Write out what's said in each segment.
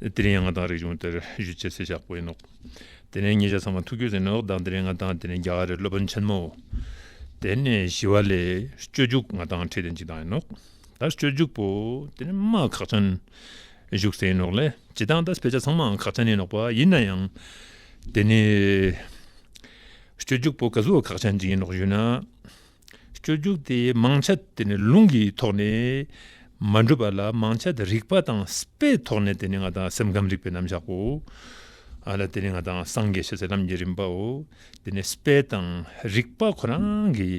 དེ་ནས་ང་དང་རིག་གཞུང་དེར་བཞུད་ཅེས་ཚིག་བཞག་པོ་ཡིན་ནོ། དེ་ནས་ཉེ་ཆར་ཚང་མ་ཐུགས་ཁྱོད་ཟིན་ནོ་དང་དེ་ནས་ང་དང་དེ་ནས་རྒྱ་གར་རི་སློབ་དཔོན་ཆེན་མོ། དེ་ནས་ཞི་བ་ལས་སྤྱོད་འཇུག་ང་དང་ཁྲི་སྟན་གཅིག་དང་ཡིན་ནོ། ད་སྤྱོད་འཇུག་པོ་དེ་ནས་མ་ཁག་ཅན། བཞུགས་ཚེ་ཡིན་ནོ་ལས་ཇི་ལྟར་ད་ཕལ་ཆེར་ཚང་མའང་ཁག་ཅན་ཡིན་ནོ་པ་ཡིན་ན་ཡང། དེ་ནས་སྤྱོད་འཇུག་པོ་ག་ཟུ་བ་ཁག་ཅན་གཅིག་ཡིན་ནོ་ཞུས་ན། སྤྱོད་རྒྱུགས་དེ་མང་ཆ་དེ་ནི་ལུང་གི་ཐོག་ནས་མ་འགྲུབ་པ་ལ་མང་ཆ་དེ་རིག་པ་དང་པའི་ཐོག་ནས་དེ་ནི་ང་དང་སེམས་ཁམས་རིག་པའི་རྣམ་གཞག་གོ། དེ་ནི་ང་དང་སངས་རྒྱས་ཞེས་སེམས་ཁམས་ཀྱི་རིམ་པའོ། དེ་ནི་པའི་དང་རིག་པ་ཁོ་རང་གི་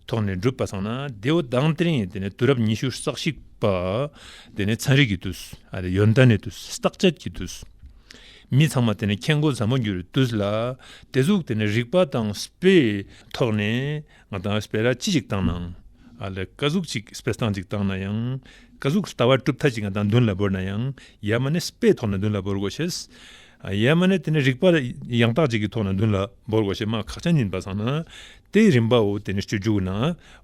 ཐོག་ནས་འགྲུབ་པ་ཚང་ན་དེའོ་དང་དེ་རིང་དེ་ནི་དུས་རབས་ཉི་ཤུ་རྩ་གཅིག་པ་དེ་ནི་ཚན་རིག་གི་དུས། ཡོན་ཏན་ནི་དུས་བརྟག་དཔྱད་ཀྱི་དུས། མི་ཚང་མ་དེ་ནི་མཁྱེན་རྒོ་ཟབ་མོ་རྒྱུ་རུ་དུས་ལ་དེ་གཟུགས་དེ་ནི་རིག་པ་དང་པའི་ཐོག་ནས་ང་དང་ཨིས་པེ་ར་ཅི་ཞིག་བཏང་ནའང། ཨ་ལ་ཀ་གཟུགས་ཅིག་ཨིས་པེ་སྟངས་ཅིག་བཏང་ན་ཡང། ཀ་གཟུགས་ལྟ་བ་གྲུབ་མཐའ་ཅིག་ང་དང་མདུན་ལ་བོར་ན་ཡང་ཡ་མ་ནི་ཨིས་པེའི་ཐོག་ན་མདུན་ལ་བོར་དགོས་ཞེས། ཡ་མ་ནི་དེ་ནི་རིག་པ་ཡང་དག་ཅིག་གི་ཐོག་ན་མདུན་ལ་བོར་དགོས་ཞེས་སྨྲ་ཁག་ཅན་ཡིན་པ་བཟང་ན། དེའི་རིམ་པ་འོ་དེ་ནི་སྤྱོད་འཇུག་ན།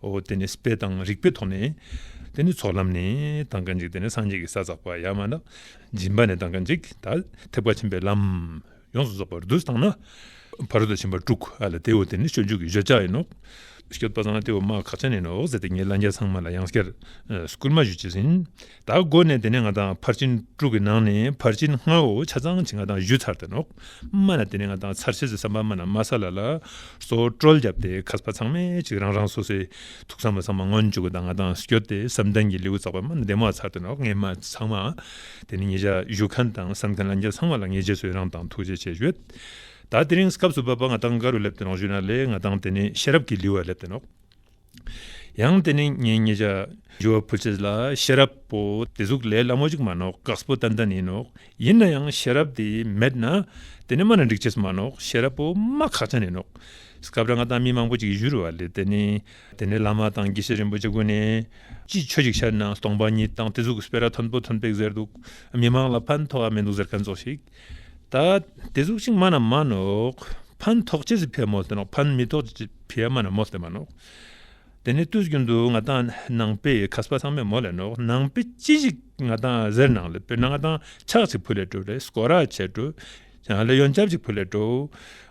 འོ་དེ་ནི་ཨིས་པེ་དང་རིག་པའི་ཐོག་ནས། དེ་ནི་ཚོགས་ལམ་ནས་དང་ག་འཇིག་དེ་ནི་སངས་རྒྱས་ཀྱི་ས་བསགས་པ་ཡ་མ་ན། སྦྱིན་པ་ནས་དང་ག་འཇིག་ད་ཐེག་པ་ཆེན་པོའི་ལམ། ཡོངས་སུ་རྫོགས་པར་བསྡུ་བཏང་ན། བར་དོ་ཆེན་པོ་དྲུག་ག་ལ་སྟེ་འོ་དེ་ནི་སྤྱོད་འཇུག་གི་བརྗོད་བྱ་ཡིན་ནོ། བསྐྱོད་པ་ཚང་སྟེ་འོ་མ་གག་ཆ་ནས་ནི་འོག་ཟེར་ཏེ་ངེད་ལྷ་རྒྱལ་ཚང་མ་ལ་ཡང་སྐྱར་སྐུར་མ་བཞུ་བྱེད་ཟིན། ད་གོ་ནས་དེ་ནས་ང་དང་ཕར་ཕྱིན་དྲུག་གི་ནང་ནས་ཕར་ཕྱིན་ལྔ་འོ་ཆ་ཚང་བྱིན་ང་དང་བཞུ་ཚར་ཏེ་ནོག་མ་ལ་དེ་ནས་ང་དང་ཚར་བྱེད་ཟེར་བསམ་པ་མ་ན་མ་ས་ལ་ལ་སོ་དཀྲོལ་བརྒྱབ་སྟེ་ཁ་སྤ་ཚང་མས་ཅིག་རང་རང་སོ་སོའི་ཐུགས་བསམ་པ་ཚང་མ་སྔོན་འཇུག་གི་ད་ང་དང་བསྐྱོད་དེ་བསམ་གཏན་གྱི་ལེའུ་བཙགས་པ་མ་ན་བདེ་མོ་ཚར་ཏེ་ནོག་ངེད་མ་ཚང་མ་དེ་ནི་ངེད་ཅག་བཞུགས་མཁན་དང་བསམ་མཁན་ལ་འགྱེལ་ཚང་བ་ལ་ངས་རྗེས་སུ་ཡི་རང་དང་ཐུགས་རྗེ་ཆེ་ཞུས། ད་དེ་རིང་སྐབས་སུ་བབ་པ་ང་ཐང་ག་རུ་སླེབས་ཏེ་རང་བཞུགས་ན་ལེགས་ང་ཐང་དེ་ནི་ཤེས་རབ་ཀྱི་ལུས་བར་སླེབས་ཏེ་ནོག། ཡང་དེ་ནི་ངས་ངེད་ཅག་ཇོ་བོ་ཕུལ་ཚད་ལ་ཤེས་རབ་པོ་དེ་གཟུགས་ལས་སླ་མོ་ཅིག་མ་ནོག་གགས་པོ་ཏན་ཏན་ཡིན་ནོག་ཡིན་ན་ཡང་ཤེས་རབ་དེ་མེད་ན་དེ་ནི་སྨྲ་ན་འགྲིག་བྱེད་སུ་མ་ནོག་ཤེས་རབ་པོ་སྨྲ་ཁག་ཅན་ཡིན་ནོག། སྐབས་རེ་ང་དང་མི་མང་པོ་ཅིག་བཞུགས་རུ་བ་ལས་དེ་ནི་དེ་ནས་བླ་མ་དང་དགེ་བཤེས་རིན་པོ་ཆེ་དགོན་ནས། ཅིའི་ཆོས་ཤིག་ཤར་ན་སྟོང་པ་ཉིད་དང་དེ་གཟུགས་སྤེལ་ར་མཐོན་པོ་ཐོན་པའི་གཟེར་འདུག་མི་མང་ལ་ཕན་ཐོགས་ཡ་མི་འདུག་ཟེར་མཁན་ཚོ་ཞིག་ད། དེ་གཟུགས་ཅིག་མ་ན་མ་ནོག། ཕན་ཐོགས་ཆེད་ཟིག་ཕེ་མོ་སྟེ་ནོག་ཕན་མི་ཐོགས་ཆེད་ཕེ་མ་ན་མོ་སྟེ་མ་ནོག། དེ་ནས་ལྟོས་ཀྱིན་འདུག་ང་དང་ནང་པས་ཁ་སྤ་ཚང་མས་མོ་ལས་ནོག་ནང་པས་ཅི་ཞིག་ང་དང་གཟེར་ནང་ལས་པས་ནང་དང་ཆག་ཅིག་བུ་ལས་བྲོས་རེས་སྐོ་ར་བྱས་བྲོས། ཡང་ལེ་ཡོང་ཅབ་ཅིག་བུ་ལས་འགྲོ།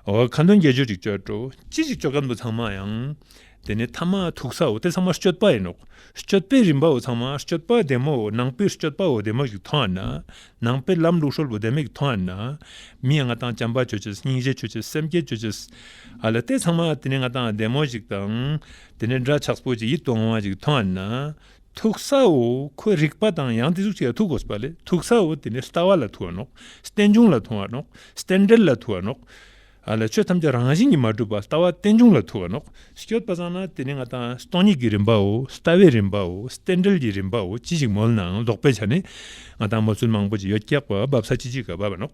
འོ་ཁ་འདོན་རྒྱལ་སྤྱོད་ཅིག་སྤྱོད་འགྲོ། ཅི་ཞིག་སྤྱོད་སྐབས་འདུག་ཚང་མ་ཡང། དེ་ནི་ཐ་མ་ཐུག་ས་འོ་དེ་ཚང་མ་སྤྱོད་པ་ཡིན་ནོ། སྤྱོད་པའི་རིམ་པའོ་ཚང་མ་སྤྱོད་པ་བདེ་མོ་འོ་ནང་པའི་སྤྱོད་པའོ་བདེ་མོ་ཞིག་མཐོང་ཡ་ན། ནང་པའི་ལམ་ལུགས་ཧྲོལ་པོ་བདེ་མོ་ཞིག་མཐོང་ཡ་ན། མིའི་ང་དང་བྱམས་པ་སྤྱོད་ཆེད་སྙིང་རྗེ་སྤྱོད་ཆེད་སེམས་བསྐྱེད་སྤྱོད་ཆེད། ཨ་ལ་དེ་ཚང་མ་དེ་ནི་ང་དང་བདེ་མོ་ཞིག་དང། དེ་ནི་འདྲ་ཆགས་པོ་ཅིག་ཡིད་དུ་འོང་བ་ཞིག་མཐོང་ཡ་ན། ཐུག་སའོ་ཁོའི་རིག་པ་དང་ཡང་དེ་ཚུགས་བྱས་ཐུག་གོ་ལེ་ཐུག་སའོ་དེ་ནི་ལྟ་བ་ལ་ཐུག་བ་ནོག་རྟེན་འབྱུང་ལ་ཐུག་བ་ནོག་རྟེན་འབྲེལ་ལ་ཐུག་བ་ནོག་ལེ་ཆོས་ཐམས་ཅད་རང་བཞིན་གྱིས་མ་གྲུབ་པ་ལྟ་བ་རྟེན་འབྱུང་ལ་ཐུག་བ་ནོག་སྐྱོད་པ་བཟང་ན་དེ་ནི་ང་དང་སྟོང་ཉིད་ཀྱི་རིམ་པའོ་ལྟ་བའི་རིམ་པའོ་རྟེན་འབྲེལ་གྱི་རིམ་པའོ་ཅི་ཞིག་མོལ་ནའང་ལོག་པའི་ཆ་ནས་ང་དང་མོ་ཚུལ་མང་པོ་ཅི་ཡོད་སྐྱག་པ་འབབ་ས་ཅི་ཅི་ག་འབབ་བ་ནོག།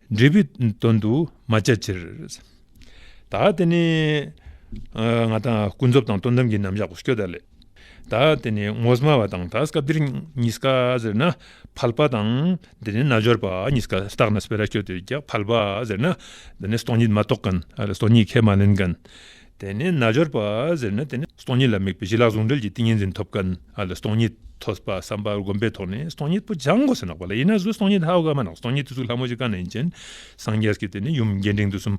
འབྲས་བུའི་དོན་དུ་མ་བྱ་ཕྱིར། ད་དེ་ནི་ང་དང་ཀུན་རྫོབ་དང་སྟོང་གཏམ་གྱི་རྣམ་གཞག་གོ་སྐྱོ་ད་ལས། ད་དེ་ནི་ངོ་སྨྲ་བ་དང་ད་སྐབས་འདིར་ཉིད་སྐ་ཟེར་ན་ཕལ་པ་དང་དེ་ནི་རྣལ་འབྱོར་པ་ཉིད་སྐ་བཏགས་ན་སྤེ་ར་ཁྱོད་དེ་རྒྱག་ཕལ་པ་ཟེར་ན་དེ་ནི་སྟོང་ཉིད་མ་རྟོགས་གན་སྟོང་ཉིད་ཁས་མ་ལེན་གན། དེ་ནས་རྣལ་འབྱོར་པ་ཟེར་ན་དེ་ནི་སྟོང་ཉིད་ལ་དམིགས་པའི་བྱིན་རླབས་ཟུང་འབྲེལ་གྱི་ཏིང་ངེ་འཛིན་ཐོབ་དཀའ་ན་ལ་སྟོང་ཉིད་ཐོས་པ་བསམ་པ་བསྒོམ་པའི་ཐོག་ནས་སྟོང་ཉིད་པོ་སྦྱང་དགོས་སུ་ནག་པ་ལ་ཡིན་ན་གཟུགས་སྟོང་ཉིད་ཧཱུྃ་ཀ་མ་ནག་སྟོང་ཉིད་དུ་གཟུགས་ལྷ་མོ་བཞི་ཀ་ནག་ཡིན་ཅིང་སངས་རྒྱས་ཀྱི་དེ་ནི་ཡུམ་རྒྱས་འབྲིང་དུ་གསུམ།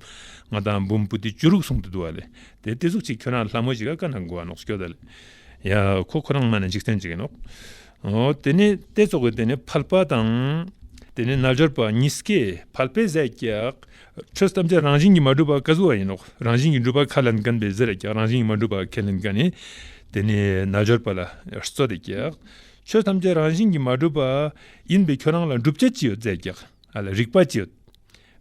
ལྔ་དང་འབུམ་བུ་སྟེ་བཅུ་རུག་གསུང་དུ་འདུ་བ་ལས་དེ་སྟེ་གཟུགས་གཅིག་ཁྱོད་རང་ལྷ་མོ་བཞི་ཀ་ཀ་ནག་མགོ་བ་ནག་སྐྱོ་དང། ཡ་ཁོ་ཁོ་རང་མ་ནག་འཇིག་རྟེན་གཅིག་ཡིན་ནོ། དེ་ནི་སྟེ་ཚོགས་ཀྱི་དེ་ནི་ཕལ་པ་དང། དེ་ནི་རྣལ་འབྱོར་པ་གཉིས་ཀས་ཕལ་པའི་ཟས་བཀྱག། ཁྲོས་ཐམས་ཅད་རང་བཞིན་གྱིས་མ་གྲུབ་པར་བཀའ་སྩོལ་བ་ཡིན་ནོ། རང་བཞིན་གྱིས་འགྲུབ་པར་ཁས་ལེན་གནས་པའི་གཟི་ལས་ཀྱང་རང་བཞིན་གྱིས་མ་གྲུབ་པར་ཁས་ལེན་གནས་ནས། དེ་ནི་རྣལ་འབྱོར་པ་ལ་སྩོལ་ཏེ་ཀྱང། ཆོས་ཐམས་ཅད་རང་བཞིན་གྱིས་མ་གྲུབ་པ། ཡིན་པས་ཁྱོད་རང་ལ་འགྲུབ་བྱ་ཅི་ཡོད་བཙལ་ཀྱང། རིག་པ་ཅི་ཡོད།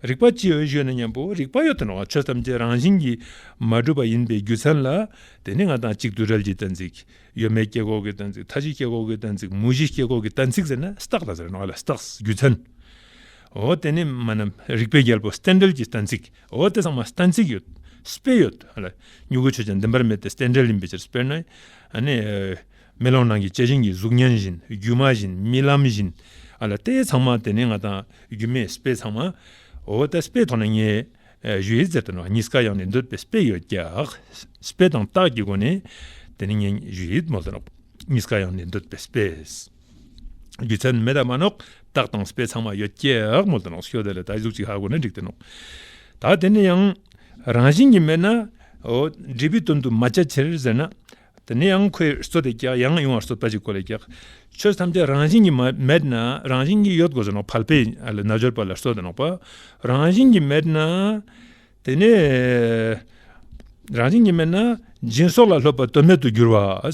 རིག་པ་ཅི་ཡོད་ཞུས་ན་སྙམ་པོ། རིག་པ་ཡོད་དོ་ནའང་ཆོས་ཐམས་ཅད་རང་བཞིན་གྱིས་མ་གྲུབ་པ་ཡིན་པའི་རྒྱུ་མཚན་ལ། དེ་ནི་ང་དང་གཅིག་དུས་རལ་གྱི་གཏན་ཚིགས། ཡོད་མེད་སྐྱེ་འགོག་གི་གཏན་ཚིགས་མཐའ་བཞི་སྐྱེ་འགོག་གི་གཏན་ཚིགས་མུ་བཞི་སྐྱེ་འགོག་གི་གཏན་ཚིགས་ཟེར་ན་སྟག་ལ་ཟེར་བ་ནང་བ་ལ་སྟག། རྒྱུ་མཚན། འོ་དེ་ནི་མ་ནམ་རིག་པའི་རྒྱལ་པོ་སྟན་འགྲེལ་གྱི་གཏན་ཚིགས། འོ་དེ་ཚང་མ་གཏན་ཚིགས་ཡོད། སྤེལ་ཡོད། མྱུ་གུའི་ཆོས་ཀྱང་བདེན་པར་མེད་དེ་སྟན་འགྲེལ་ཡིན་པའི་ཕྱིར་སྤེལ་ན། མེ་ལོང་ནང་གི་བཅད་བཞིན་གྱི་གཟུགས་བརྙན་བཞིན་སྒྱུ་མ་བཞིན་རྨི་ལམ་བཞིན། དེ་ཚང་མ་དེ་ནི་ང་དང་སྒྱུ་མའི་སྤེལ་ཚང་མ། འོ་དེ་སྤེལ་ཐོག་ནས་ངས་གཞུ་ཡི་རྩེར་དུ་ནག་ཉིས་ཀ་གཡང་ནས་འདོད་པའི་སྤེལ་ཡོད་ཀྱང། སྤེལ་དང་རྟགས་ཀྱི་སྒོ་ནས་དེ་ནི་ངས་གཞུ་ཡི་མོ་དང་ཉིས་ཀ་གཡང་ནས་འདོད་པའི་སྤེལ། རྒྱུ་མཚན་ནི་མེ་དང་མ་ནོག་སྟག་དང་སྤེ་ཚང་མ་ཡོད་ཀྱག་མོ་དང་ནགས་ཤོད་དེ་ལ་ད་གཟུགས་ཅིག་ཧ་གོ་ན་འགྲིག་དེ་ནོག་ད་དེ་ནི་ཡང་རང་བཞིན་གྱི་མེད་ན་འབྲས་བུའི་དོན་དུ་མ་བྱ་ཕྱིར་ཟེར་ན་དེ་ནི་ཡང་ཁོའི་སོ་དེ་ཀྱག་ཡང་ཡོང་བར་སོ་ལྟ་ཅིག་གོ་ལ་ཀྱག་ཆོས་ཐམས་ཅད་རང་བཞིན་གྱི་མེད་ན་རང་བཞིན་གྱི་ཡོད་དགོས་ཟེར་ནོག་བལ་པའི་རྣལ་འབྱོར་པ་ལ་སོ་དང་ནོག་པ་རང་བཞིན་གྱི་མེད་ན་དེ་ནི་རང་བཞིན་གྱི་མེད་ན་སྦྱིན་སོགས་ལ་སློབ་པ་དོན་མེད་དུ་འགྱུར་བ།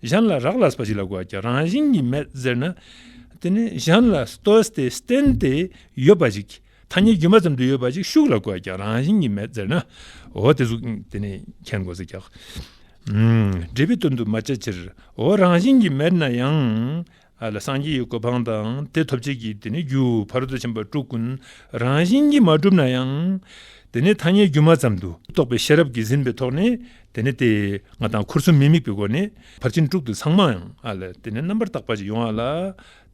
གཞན་ལ་རག་ལས་པ་ཞིག་ལ་གོ་རྒྱ་རང་བཞིན་གྱིས་མེད་ཟེར་ན། དེ་ནི་གཞན་ལ་ལྟོས་ཏེ་བརྟེན་ཏེ་ཡོད་པ་ཞིག་ཐ་སྙད་རྒྱུ་མ་ཙམ་དུ་ཡོད་པ་ཞིག་ཤུགས་ལ་གོ་རྒྱ་རང་བཞིན་གྱིས་མེད་ཟེར་ན། འོ་དེ་གཟུགས་དེ་ནི་མཁྱེན་དགོས་ཟེར་ཀྱང། འབྲས་བུའི་དོན་དུ་མ་བྱས་ཕྱིར་འོ་རང་བཞིན་གྱིས་མེད་ན་ཡང་ལ་སངས་རྒྱས་ཀྱི་གོ་འཕང་དང་དེ་ཐོབ་བྱེད་ཀྱི་དེ་ནི་རྒྱུ་བར་དུ་ཕྱིན་པ་སྤྲུལ་སྐུ་རང་བཞིན་གྱིས་མ་གྲུབ་ན་ཡང། དེ་ནི་ཐ་སྙད་སྒྱུ་མ་ཙམ་དུ་རྟོགས་པའི་ཤེས་རབ་ཀྱིས་ཟིན་པའི་ཐོག་ནས་དེ་ནི་དེ་ང་དང་འཁོར་གསུམ་མི་དམིགས་པའི་སྒོ་ནས་ཕར་ཕྱིན་དྲུག་ཏུ་ཚང་མ་ཡང་དེ་ནི་རྣམ་པར་དག་པ་ཅིག་ཡོང་བ་ལ།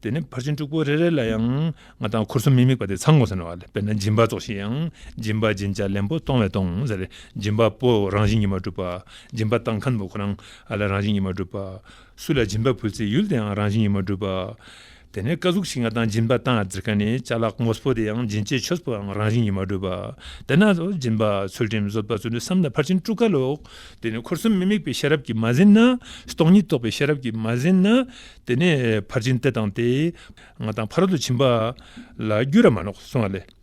དེ་ནི་ཕར་ཕྱིན་དྲུག་པོ་རེ་རེ་ལ་ཡང་ང་དང་འཁོར་གསུམ་མི་དམིགས་པ་དེ་ཚང་ངོ་ཟེར་ན་བ་ལས་དཔེར་ན་སྦྱིན་པ་རྫོགས་ཤིང་ཡང་སྦྱིན་པ་སྦྱིན་བྱ་ལེན་པོ་གཏོང་བས་གཏོང་ཟེར་སྦྱིན་པ་པོ་རང་བཞིན་གྱིས་མ་གྲུབ་པ་སྦྱིན་པ་བཏང་མཁན་པོ་ཁོ་རང་རང་བཞིན་གྱིས་མ་གྲུབ་པ། སུ་ལ་སྦྱིན་པ་ཕུལ་ཚེ་ཡུལ་དེའང་རང་བཞིན་ཡོད་མ་བསྒྲུབ་པ། དེ་ནས་བཀའ་གཟུགས་ཤིང་ལྔ་དང་སྦྱིན་པ་དང་ཙི་ཀ་ནི་བྱ་གླག་ངོ་སྤོ་དེའང་སྦྱིན་བྱེད་ཆོས་སྤོའང་རང་བཞིན་ཡོད་མ་བསྒྲུབ་པ། དེ་ནས་སྦྱིན་པ་ཚུལ་ཁྲིམས་བཟོད་པ་ཚུལ་འདི་བསམས་ན་ཕར་ཕྱིན་དཀྲུགས་དཀའ་ལོ། དེ་ནས་འཁོར་གསུམ་མི་དམིགས་པའི་ཤེས་རབ་ཀྱིས་མ་ཟིན་ན། སྟོང་ཉིད་རྟོགས་པའི་ཤེས་རབ་ཀྱིས་མ་ཟིན་ན། དེ་ནས་ཕར་ཕྱིན་དེ་དང་དེ། ང་དང་ཕ་རོལ་ཏུ་ཕྱིན་པ། ལ་རྒྱུད་ར་མ་ནོག་གསུངས་བ་ལས།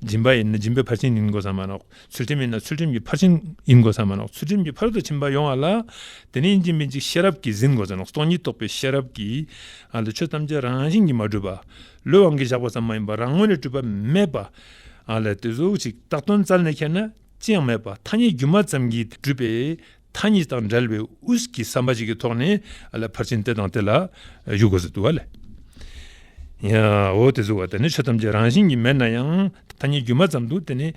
སྦྱིན་པ་ཡིན་ན་སྦྱིན་པའི་ཕར་ཕྱིན་ཡིན་དགོས་སམ་མ་གནང། ཚུལ་ཁྲིམས་ཡིན་ན་ཚུལ་ཁྲིམས་ཀྱི་ཕར་ཕྱིན་ཡིན་དགོས་སམ་མ་གནང། ཚུལ་ཁྲིམས་ཀྱི་ཕར་དུ་ཕྱིན་པ་ཡོང་བ་ལ་དེ་ནི་སྦྱིན་པའི་འཇིགས་ཤེས་རབ་ཀྱིས་ཟིན་དགོས་སམ་མ་གནང། སྟོང་ཉིད་རྟོགས་པའི་ཤེས་རབ་ཀྱིས། ཆོས་ཐམས་ཅད་རང་བཞིན་གྱིས་མ་གྲུབ་པ། ལུས་དབང་གིས་བཞག་པ་ཙམ་མ་ཡིན་པར་རང་ངོས་ནས་གྲུབ་པ་མེད་པ། དེ་གཟུགས་གཅིག་རྟག་དོན་རྩལ་ནས་ཁྱེར་ན་ཅི་ཡང་མེད་པ་ཐ་སྙད་སྒྱུ་མ་ཙམ་གྱིས་གྲུབ་པས། མཐའ་གཉིས་དང་འབྲེལ་བའི་དབུས་ཀྱི་བསམ་པ་ཞིག་གི་ཐོག་ནས་ལ་ཕར་ཕྱིན་དེ་དང་དེ་ལ་གཞུག་དགོས་སུ་འདུག་བ་ལས། འོ་དེ་ཟེར་བ་དེ་ནི་ཆོས་ཐམས་ཅད་རང་བཞིན་གྱིས་མེད་ན་ཡང་མཐའ་གཉིས་སྒྱུ་མ་ཙམ་དུ་དེ་ནི་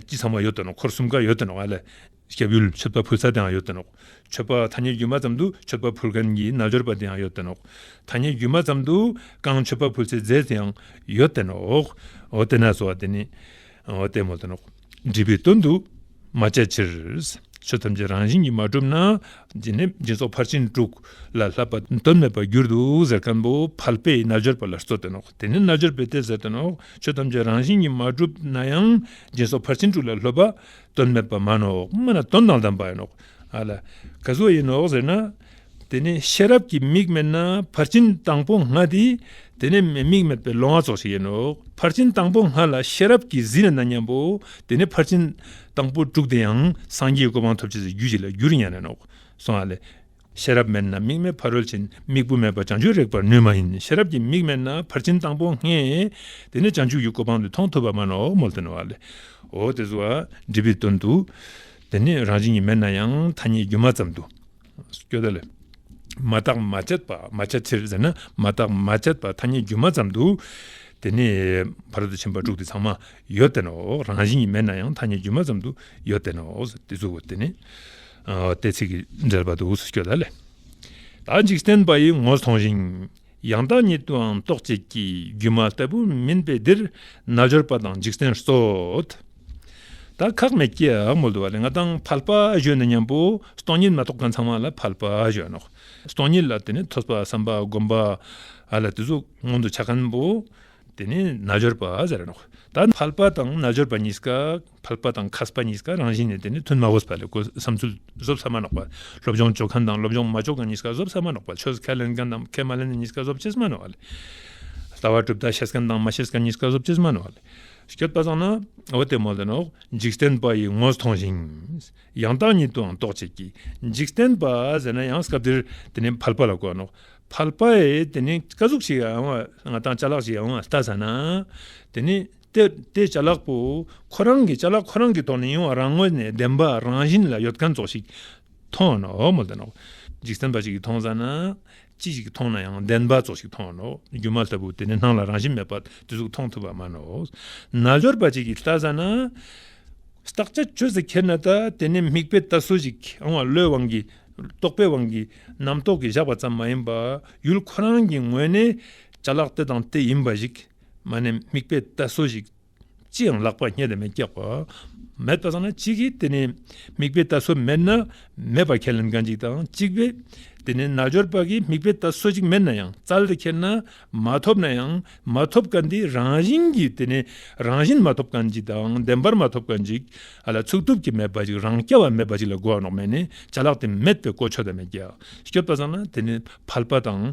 ཅི་ཚང་མ་ཡོད་དོ་ནོ་འཁོར་གསུམ་ཀ་ཡོད་དོ་ནོ་བ་ལས། སྐྱབས་ཡུལ་མཆོད་པ་ཕུལ་ས་དེའང་ཡོད་དོ་ནོ། མཆོད་པ་མཐའ་གཉིས་སྒྱུ་མ་ཙམ་དུ་མཆོད་པ་ཕུལ་མཁན་གྱི་རྣལ་འབྱོར་པ་དེའང་ཡོད་དོ་ནོ། མཐའ་གཉིས་སྒྱུ་མ་ཙམ་དུ་རྐང་མཆོད་པ་ཕུལ་སའི་རྫས་དེའང་ཡོད་དེ་ནོ། འོ་དེ་ནས་སོ་བ་དེ་ནི་ལྟད་མོ་དོ་ནོ། འདྲིས་པའི་དོན་དུ་མ་བྱ་ཕྱིར། ཆོས་ཐམས་ཅད་རང་བཞིན་གྱིས་མ་གྲུབ་ན། འདི་ནི་སྦྱིན་སོགས་ཕར་ཕྱིན་དྲུག་ལ་བསླབ་པ་དོན་མེད་པར་འགྱུར་དུ་ཟེར་མཁན་པོ་བལ་པའི་རྣལ་འབྱོར་པ་ལ་སྩོལ་བསྟན་ནོ། དེ་ནི་རྣལ་འབྱོར་པའི་གཏད་སོ་བསྟན་ནོ། ཆོས་ཐམས་ཅད་རང་བཞིན་གྱིས་མ་གྲུབ་ན་ཡང་སྦྱིན་སོགས་ཕར་ཕྱིན་དྲུག་ལ་སློབ་པ་དོན་མེད་པར་སྨྲ་ནོ། སྨྲ་ན་དོན་དང་ལྡན་པ་ཡིན་ནོ། ཨ་ལ། ག་སུ་ཡིན་ནོ་ཟེར་ན། དེ་ནས་ཤེས་རབ་ཀྱི་མིག་མེད་ན་ཕར་ཕྱིན་དང་པོ་ང་སྟེ་དེ་ནས་མིག་མེད་པའི་ལོང་བ་ཚོགས་བྱེད་ཡིན་ནོ། ཕར་ཕྱིན་དང་པོ་ང་ལ་ཤེས་རབ་ཀྱི་གཟི་ལ་ན་མཉམ་པོ་དེ་ནས་ཕར་ཕྱིན་དང་པོ་དྲུག་དེ་ཡང་སངས་རྒྱས་ཀྱི་གོ་འཕང་ཐོབ་བྱེད་ཀྱི་རྒྱུ་གཅིག་ལ་རྒྱུར་མྱ་ངན་ནོ། གསུང་ཨ། ཤེས་རབ་མེད་ན་མིག་མེད་ཕ་རོལ་ཕྱིན་མིག་བུ་མེད་པར་བྱང་ཆུབ་རེག་པར་ནུས་མ་ཡིན་ཤེས་རབ་ཀྱི་མིག་མེད་ན་ཕར་ཕྱིན་དང་པོ་ང་དེ་ནས་བྱང་ཆུབ་ཀྱི་གོ་འཕང་འདི་མཐོང་ཐུབ་པ་མ་ནོ་མོལ་ཏེ་ནོ། འོ་དེ་སུའང་འདྲི་བའི་དོན་དུ། དེ་ནི་རང་བཞིན་གྱིས་མེད་ན་ཡང་ཐ་སྙད་སྒྱུ་མ་ཙམ་དུ་སྐྱོ་ད་ལ། མ་བརྟགས་མ་དཔྱད་པ་མ་བྱ་ཕྱིར་ཟེར་ན་མ་བརྟགས་མ་དཔྱད་པ་ཐ་སྙད་སྒྱུ་མ་ཙམ་དུ། དེ་ནི་བར་དོ་ཆེན་པོ་དྲུག་དེ་ཚང་མ་ཡོད་བསྟན་ནོ། རང་བཞིན་གྱིས་མེད་ན་ཡང་ཐ་སྙད་སྒྱུ་མ་ཙམ་དུ་ཡོད་བསྟན་ནོ། དེ་ཚུལ་གོ་དེ་ནི་ཏེ་ཚིག་གི་འགྲེལ་པ་དུ་སྐྱོ་ད་ལ། ད་འཇིག་རྟེན་པ་ཡི་ངོ་མཐོང་ཞིང། ཡང་དག་ཉིད་དུའང་རྟོགས་བྱེད་ཀྱི་སྒྱུ་མ་ལྟ་བུ་མིན་པས་འདིར་རྣལ་འབྱོར་པ་དང་འཇིག་རྟེན་སོགས་དག་ཁག་མེད་ཀྱི་འོག་མ་དུ་བ་ལས་ལྔ་དང་ཕལ་པ་བཞོན་ནོ་སྙམ་པོ་སྟོང་ཉིད་མ་རྟོགས་པ་ཚང་མ་ལ་ཕལ་པ་བཞོན་ནོ། སྟོང་ཉིད་ལ་དེ་ནི་ཐོས་པ་བསམ་པ་བསྒོམ་པ་ལ་དེ་ཚོ་མངོན་དུ་ཆ་གང་པོ་དེ་ནི་རྣལ་འབྱོར་པ་ཟེར་ནོ། ད་ཕལ་པ་དང་རྣལ་འབྱོར་པ་གཉིས་ཀ། འཕགས་པ་དང་ཁ་སྤ་གཉིས་ཀ་རང་བཞིན་ནི་དེ་ནི་དོན་མ་བོས་པ་ལས་གོལ་བསམ་ཚུལ་བཟོ་བསམ་མ་ནག་པ་སློབ་སྦྱོང་འཇོག་མཁན་དང་སློབ་སྦྱོང་མ་འཇོག་མཁན་གཉིས་ཀ་བཟོ་བསམ་མ་ནག་པ་ཆོས་ཁས་ལེན་མཁན་དང་ཁས་མ་ལེན་གཉིས་ཀ་བཟོ་བྱེད་བསམ་མ་ནག་པ་ལྟ་བ་གྲུབ་མཐའ་ཤེས་མཁན་དང་མ་ཤེས་མཁན་གཉིས་ཀ་བཟོ་བྱེད་བསམ་མ་ནག་པ་སྐྱོད་པ་བཟང་ན་འོ་དེ་མོ་ལེ་ནོ་འཇིག་རྟེན་པ་ཡིས་ངོ་མཐོང་ཞིང་ཡང་དག་ཉིད་དུའང་རྟོགས་བྱེད་ཀྱི་འཇིག་རྟེན་པ་ཟེར་ན་ཡང་སྐབས་དེར་དེ་ནི་ཕལ་པ་ལ་གོ་ནོ་ཕལ་པའི་དེ་ནི་བཀའ་གཟུགས་ཤིག་ཡང་བ་དང་ཅ་ལག་ཅིག་ཡང་བ་ལྟ་ཟ་ན་དེ་ནི། ཏེ། བྱ་གླག་པོ། ཁོ་རང་གི་བྱ་གླག་ཁོ་རང་གི་ཐོག་ནས་ཡོང་བ་རང་ངོས་ནས་བདེན་པ་རང་བཞིན་ལ་ཡོད་མཁན་ཚོ་ཞིག་མཐོང་ནོ། འཇིག་རྟེན་པ་ཞིག་གིས་མཐོང་ས་ན། ཅི་ཞིག་མཐོང་ན་ཡང་བདེན་པ་ཚོ་ཞིག་མཐོང་ནོ། སྒྱུ་མ་ལྟ་བུ་དེ་ནི་སྣང་ལ་རང་བཞིན་མེད་པ་དེ་ཚོ་མཐོང་ཐུབ་པ་མ་ནོ། རྣལ་འབྱོར་པ་ཅིག་གིས་ལྟ་ས་ན། བརྟག་བྱ་ཆོས་སུ་ཁྱེར་ན་ད་དེ་ནི་མིག་དཔེ་ལྟ་སྲོལ་ཞིག་ཨང་བ་བློའི་དབང་གིས་རྟོག་པའི་དབང་གིས་རྣམ་རྟོག་གིས་བཞག་པ་ཙམ་མ་ཡིན་པར་ཡུལ་ཁོ་རང་གི་ངོས་ནས་བྱ་གླག་དེ་དང་དེ་ཡིན་པ་ཞིག་མ་ནི་དམིགས་པའི་རྟ་སོ་ཞིག། ཅི་ཡང་ལག་པར་རྙེད་དང་མི་སྐྱག་པ། མེད་པ་དང་ན་གཅིག་གིས་དེ་ནི། དམིགས་པའི་རྟ་སོ་མེད་ན། མེད་པར་ཁས་ལེན་གང་ཅིག་དང་གཅིག་པས། དེ་ནི་རྣལ་འབྱོར་པ་གིས་དམིགས་པའི་རྟ་སོ་ཅིག་མེད་ན་ཡང་རྩལ་དུ་ཁྱེར་ན། མ་ཐོབ་ན་ཡང་མ་ཐོབ་ཀ་འདི་རང་བཞིན་གྱིས་དེ་ནི། རང་བཞིན་མ་ཐོབ་གང་ཅིག་དང་བདེན་པར་མ་ཐོབ་གང་ཅིག། ལ་ཚུགས་ཐུབ་ཀྱི་མེད་པ་ཅིག་རང་སྐྱ་བ་མེད་པ་ཅིག་ལ་སྒོ་ནག་མེད་ནི་བྱ་གླག་དེ་མེད་པས་ཀོ་ཆོད་དང་མི་སྐྱག་སྐྱོབ་པ་ཚང་ན་དེ་ནི་ཕལ་པ་དང་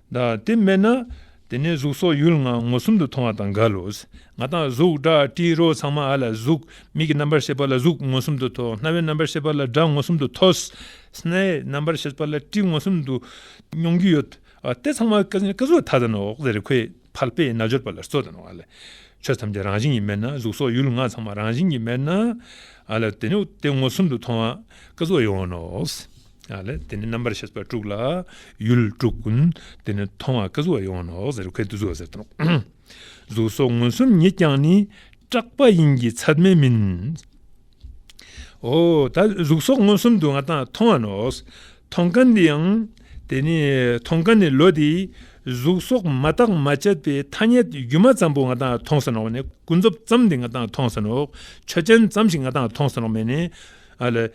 དེ་སྨྲས་ན། དེ་ནས་གཟུགས་སོགས་ཡུལ་ལྔ་མངོན་སུམ་དུ་མཐོང་བ་དང་འགལ་ལོ། ང་དང་གཟུགས་སྒྲ་དྲི་རོ་ཚང་མ་ཨ་ལ་གཟུགས། མིག་གི་རྣམ་པར་ཤེས་པ་ལ་གཟུགས་མངོན་སུམ་དུ་མཐོ། རྣ་བའི་རྣམ་པར་ཤེས་པ་ལ་སྒྲ་མངོན་སུམ་དུ་མཐོ། སྣའི་རྣམ་པར་ཤེས་པ་ལ་དྲི་མངོན་སུམ་དུ་མྱོང་རྒྱུ་ཡོད། དེ་ཚང་མ་སྐྱེ་གཟུགས་ཐ་དད་ནོ། རེ་ཁོས་ཕལ་པའི་རྣལ་འབྱོར་པ་ལ་སྲོད་དང་ཨ་ལས། ཆོས་ཐམས་ཅད་རང་བཞིན་གྱིས་མེད་ན་གཟུགས་སོགས་ཡུལ་ལྔ་ཚང་མ་རང་བཞིན་གྱིས་མེད་ན། ཨ་ལ་དེ་ནི་དེ་མངོན་སུམ་དུ་མཐོང་བ་སྐྱེ་གཟུགས་ཡོད་ནོ། དེ་ནས་རྣམ་པར་ཤེས་པ་དཀྲུགས་ལ། ཡུལ་དཀྲུགས། དེ་ནས་མཐོང་བ་ཀུན་གཟུགས་ལ་ཡོང་ནོ། གཟུགས་སོགས་མངོན་སུམ་ཉིད་ཀྱང་ནི། སྐྲག་པ་ཡིན་གྱི་ཚད་མས་མིན། གཟུགས་སོགས་མངོན་སུམ་དུ་ང་དང་མཐོང་བ་ནོ། མཐོང་དཀའ་འདི་ཡང། དེ་ནས་མཐོང་དཀའ་ནི་ལོ་དེའི། གཟུགས་སོགས་མ་བརྟགས་མ་དཔྱད་པའི་ཐ་སྙད་སྒྱུ་མ་ཙམ་པོ་ང་དང་མཐོང་ཟིན་ནོ། ཀུན་རྫོབ་ཙམ་དེ་ང་དང་མཐོང་ཟིན་ནོ། ཆོས་ཅན་ཙམ་ཞིག་ང་དང་མཐོང་ཟིན་ནོ། ཨ་ལས།